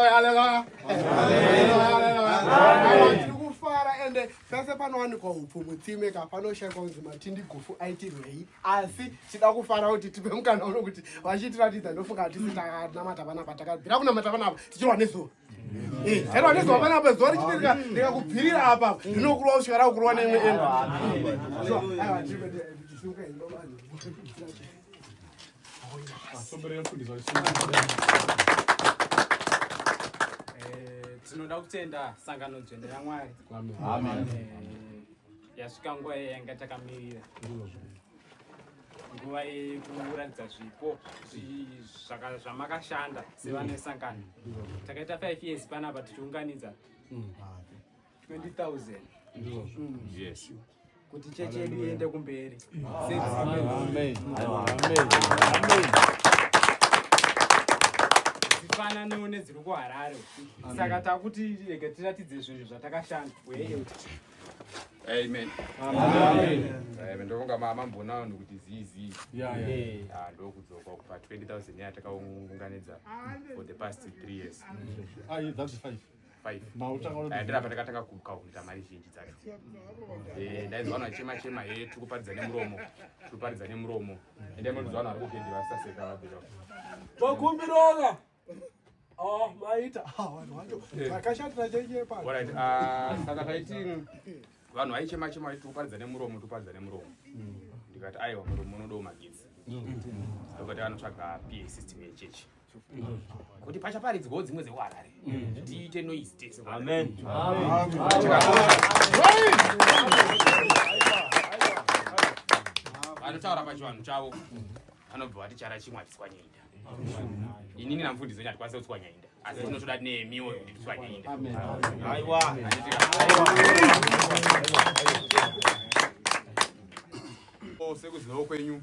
Haleluya. Haleluya ende pese panowanikwa upfu mutsime ka panoshaikwa kunzi matindi gufu aitirwei asi tida kufara kuti tipe mukana uno kuti vachitiratidza ndofunga hatisi tanamata panapa takabvira kunamata panapa tichirwa nezuva tairwa nezuva panapa zuva richitirika ndikakubvirira apa ndinokurwa kusvika rakukurwa neimwe enda Eh, tinoda kutenda sangano dzvene ramwari eh, yasvika nguva iye yanga takamirira nguva yekuratidza zvipo zvamakashanda sevane sangano takaita five years panapa tichiunganidza mm. 20,000 ndizvo mm. yes kuti chechi yedu iende kumberi dzifananiwo nedziri kuharare saka takuti rege tiratidze zvinhu zvatakashanda Amen. Amen. Amen. Ndovonga mama mbona vanhu kuti zizi. Yeah, yeah. Ah, ndokudzoka kupa 20,000 yatakaunganidza for the past 3 years. Ah, that's 5. ndira pandakatanga kukaunta mari zhinji dzacho eh, ndainzwa vanhu vachema chema he eh, tiri kuparidza nemuromo tiri kuparidza nemuromo ende munonzwa vanhu vari kugendi vasaseka vabira vakumbirova oh, maita ah, vanhu vacho eh. vakashatira chenyepa ah, saka taiti vanhu vaichema chema vaiti tikuparidza nemuromo tikuparidza nemuromo ndikati aiwa muromo unodawo magidzi ndokati vanotsvaga pa system yechechi kuti pachaparidzwawo dzimwe dzekuharare tiite noise tese vanotaura pachivanhu chavo vanobva vati chara chimwe hatiswanyainda inini namfundisi wenyu hatikwanisa kutswanyainda asi tinotoda nemiwo kuti titswanyainda sekuzivawo kwenyu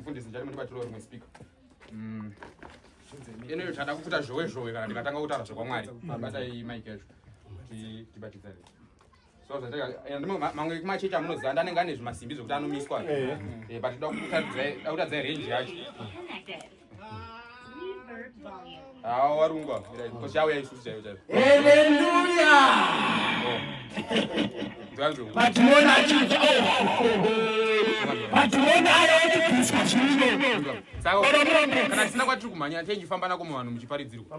mfundisi ndichati mundibatiro rimwe speaker mm. ino iyo chada kufuta zhowe zhowe kana ndikatanga kutaura zvekwamwari abatai mike yacho tibatidzane mamwe machechi amunoziva andi anenge ane zvimasimbi zvekuti anomiswa eh. eh, but da kutadza range yacho awa ah, warungwa kosha auya isusu chaivo chaivo haleluya patinoona oh, oh, oh, kana tisina kwatiri kumhanya tichifamba nako muvanhu muchiparidzirwa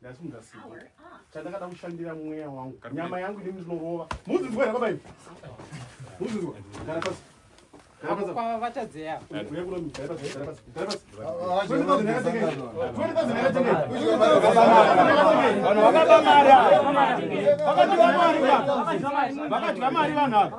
ndasunga sipo chandakada kushandira mweya wangu nyama yangu ini ndinorova muzinzwa here babai muzinzwa gara pasi vakadya mari vanhu ava